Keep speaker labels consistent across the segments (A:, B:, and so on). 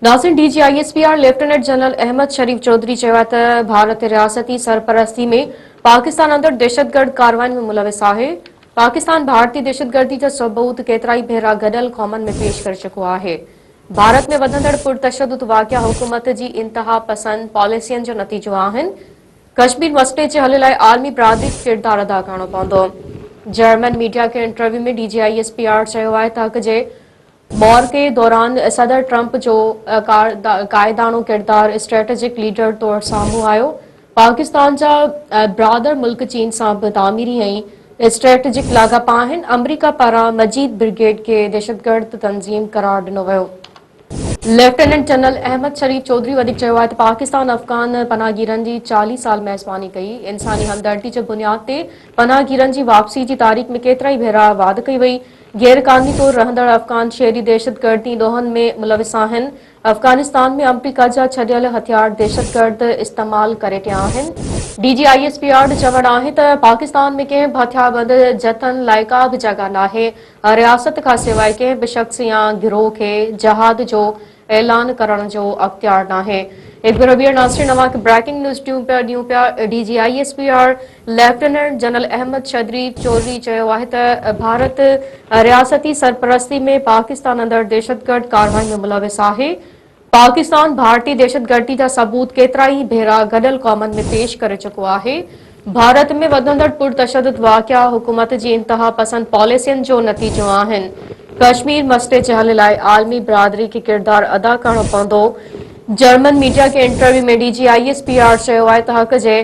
A: ناظرين D G I S P R lieutenant general Ahmed Sharif Chaudhry چيو آهي ته ڀارت رياستي سرپرستي ۾ پاڪستان اندر دهشتگرد ڪارواين ۾ ملوث آهي پاڪستان ڀارتي دهشتگردي جا ثبوت ڪيترائي ڀيرا گڏيل قومن ۾ پيش ڪري چڪو آهي ڀارت ۾ وڌندڙ پرتشدد واقعا حڪومت جي انتها پسند پاليسين جو نتيجو آهن ڪشمير مسئلي جي حل لاء عالمي برادري کي ڪردار ادا ڪرڻو پوندو جرمن ميڊيا کي interview ۾ D G I S P R چيو آهي ته حق جي معرڪي دوران صدر ٽرمپ جو قائداڻو ڪردار اسٽريٽجڪ ليڊر طور سامهون آيو، پاڪستان جا برادر ملڪ چين سان به تعميري ۽ اسٽريٽجڪ لاڳاپا آهن، آمريڪا پاران مجيد برگيڊ کي دهشتگرد تنظيم قرار ڏنو ويو. ليفٽيننٽ جنرل احمد شريف چوڌري وڌيڪ چيو آهي ته پاڪستان افغان پناهگيرن جي چاليهه سال ميزباني ڪئي، انساني همدردي جي بنياد تي پناهگيرن جي واپسي جي تاريخ ۾ ڪيترائي ڀيرا واڌ ڪئي وئي، غير قانوني طور رهندڙ افغان شهري دهشتگردي ڏوهن ۾ ملوث آهن، افغانستان ۾ آمريڪا جا ڇڏيل هٿيار دهشتگرد استعمال ڪري رهيا آهن، D G I S P R جو چوڻ آهي ته پاڪستان ۾ ڪنهن به هٿياربند جٿن لاء ڪا به جڳهه ناهي، رياست کانسواء ڪنهن به شخص يا گروهه کي جهاد جو اعلان ڪرڻ جو اختيار ناهي. ايڪ بير ويئر ناظرين اوهان کي بريڪنگ نيوز ڏيون پيا ڏيون پيا D G I S P R lieutenant general Ahmed شدري چوڌري چيو آهي ته ڀارت رياستي سرپرستي ۾ پاڪستان اندر دهشتگرد ڪارروائين ۾ ملوث آهي، پاڪستان ڀارتي دهشتگردي جا ثبوت ڪيترائي ڀيرا گڏيل قومن ۾ پيش ڪري چڪو آهي، ڀارت ۾ وڌندڙ پرتشدد واقعا حڪومت جي انتها پسند پاليسين جو نتيجو آهن، ڪشمير مسئلي جي حل لاء عالمي برادري کي ڪردار ادا ڪرڻو پوندو، جرمن ميڊيا کي interview ۾ D G I S P R چيو آهي ته حق جي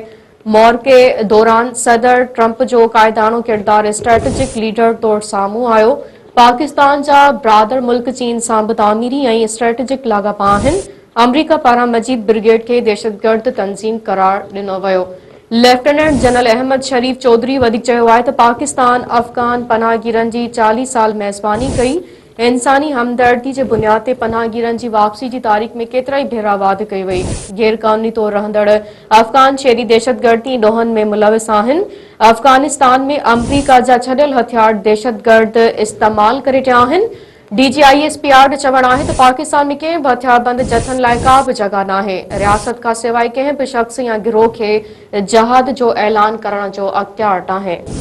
A: مورڪي دوران صدر ٽرمپ جو قائداڻو ڪردار اسٽريٽجڪ ليڊر طور سامهون آيو، پاڪستان جا برادر ملڪ چين سان به تعميري ۽ اسٽريٽجڪ لاڳاپا آهن، آمريڪا پاران مجيد برگيڊ کي دهشتگرد تنظيم قرار ڏنو ويو. ليفٽيننٽ جنرل احمد شريف چوڌري وڌيڪ چيو آهي ته پاڪستان افغان پناهگيرن جي چاليهه سال ميزباني ڪئي، انساني همدردي جي بنياد تي پناهگيرن جي واپسي جي تاريخ ۾ ڪيترائي ڀيرا واڌ ڪئي وئي. غير قانوني طور رهندڙ افغان شهري دهشتگردي ڏوهن ۾ ملوث آهن. افغانستان ۾ آمريڪا جا ڇڏيل هٿيار دهشتگرد استعمال ڪري رهيا آهن. D G I S P R جو چوڻ آهي ته پاڪستان ۾ ڪنهن به هٿياربند جٿن لاء ڪا به جڳهه ناهي. رياست کانسواء ڪنهن به شخص يا گروهه کي جهاد جو اعلان ڪرڻ جو اختيار ناهي.